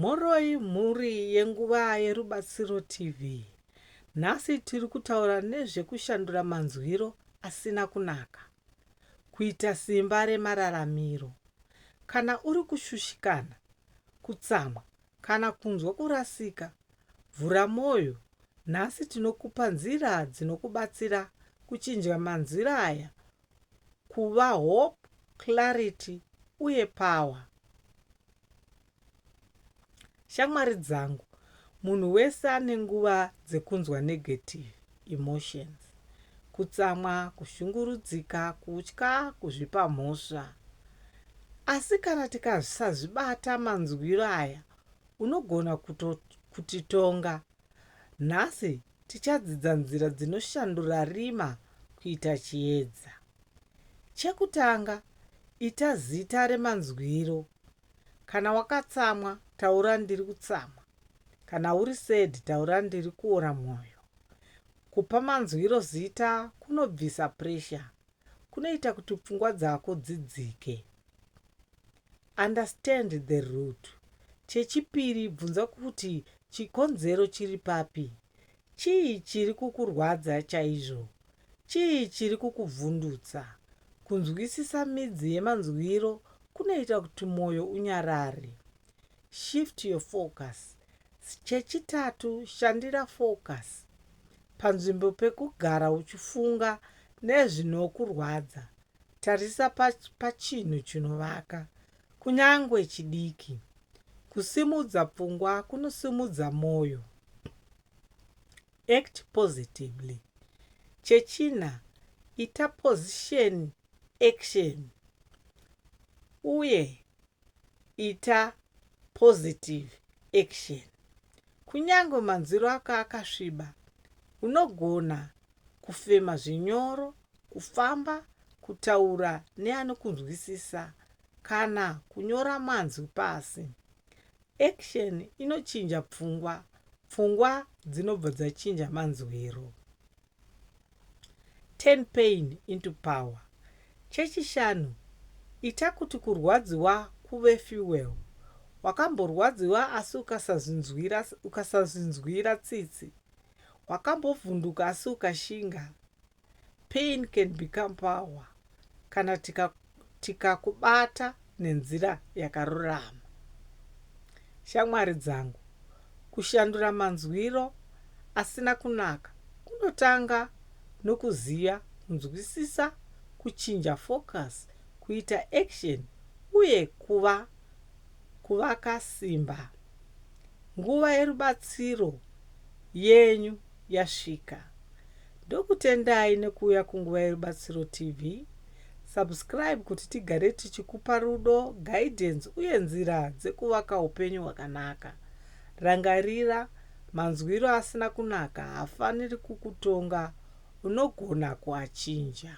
Mhoroi mhuri yeNguva yeRubatsiro TV. Nhasi tiri kutaura nezvekushandura manzwiro asina kunaka, kuita simba remararamiro. Kana uri kushushikana, kutsamwa kana kunzwa kurasika, vhura mwoyo. Nhasi tinokupa nzira dzinokubatsira kuchinja manzwiro aya kuva hope, clarity uye power. Shamwari dzangu, munhu wese ane nguva dzekunzwa negative emotions, kutsamwa, kushungurudzika, kutya, kuzvipa mhosva. Asi kana tikasazvibata manzwiro aya unogona kutoti tonga nhasi Tichadzidza nzira dzinoshandura rima kuita chiedza. Chekutanga, ita zita remanzwiro. Kana wakatsamwa, taura ndiri kutsamwa. Kana uri sad, taura ndiri kuora mwoyo. Kupa manzwiro zita kunobvisa pressure. Kunoita kuti pfungwa dzako dzidzike. Understand the root. Chechipiri bvunza kuti chikonzero chiri papi. Chii chiri kukurwadza chaizvo? Chii chiri kukuvhundutsa? Kunzwisisa midzi yemanzwiro kunoita kuti mwoyo unyarare. Shift your focus. Chechitatu shandira focus. Panzvimbo pekugara uchifunga nezvinokurwadza, Tarisa pachinhu chinovaka, kunyange chidiki. Kusimudza pfungwa kunosimudza mwoyo. Act positively. Chechina, ita position action uye ita positive action. Kunyange manzwiro ako akasviba, unogona kufema zvinyoro, kufamba, kutaura neanokunzwisisa kana kunyora manzwi pasi. Action inochinja pfungwa, pfungwa dzinobva dzachinja manzwiro. Turn pain into power. Chechishanu, ita kuti kurwadziwa kuve fuel. Wakamborwadziwa asi ukasazvinzwira, ukasazvinzwira tsitsi, Wakambovhunduka asi ukashinga? Pain can become power kana tikakubata tika nenzira yakarurama. Shamwari dzangu, kushandura manzwiro asina kunaka kunotanga nokuziva, kunzwisisa, kuchinja focus, kuita action uye kuva kuvaka simba. Nguva yerubatsiro yenyu yasvika. Ndokutendai nekuuya kuNguva yerubatsiro TV. Subscribe kuti tigare tichikupa rudo, guidance uye nzira dzekuvaka upenyu hwakanaka. Rangarira, manzwiro asina kunaka haafaniri kukutonga, unogona kuachinja.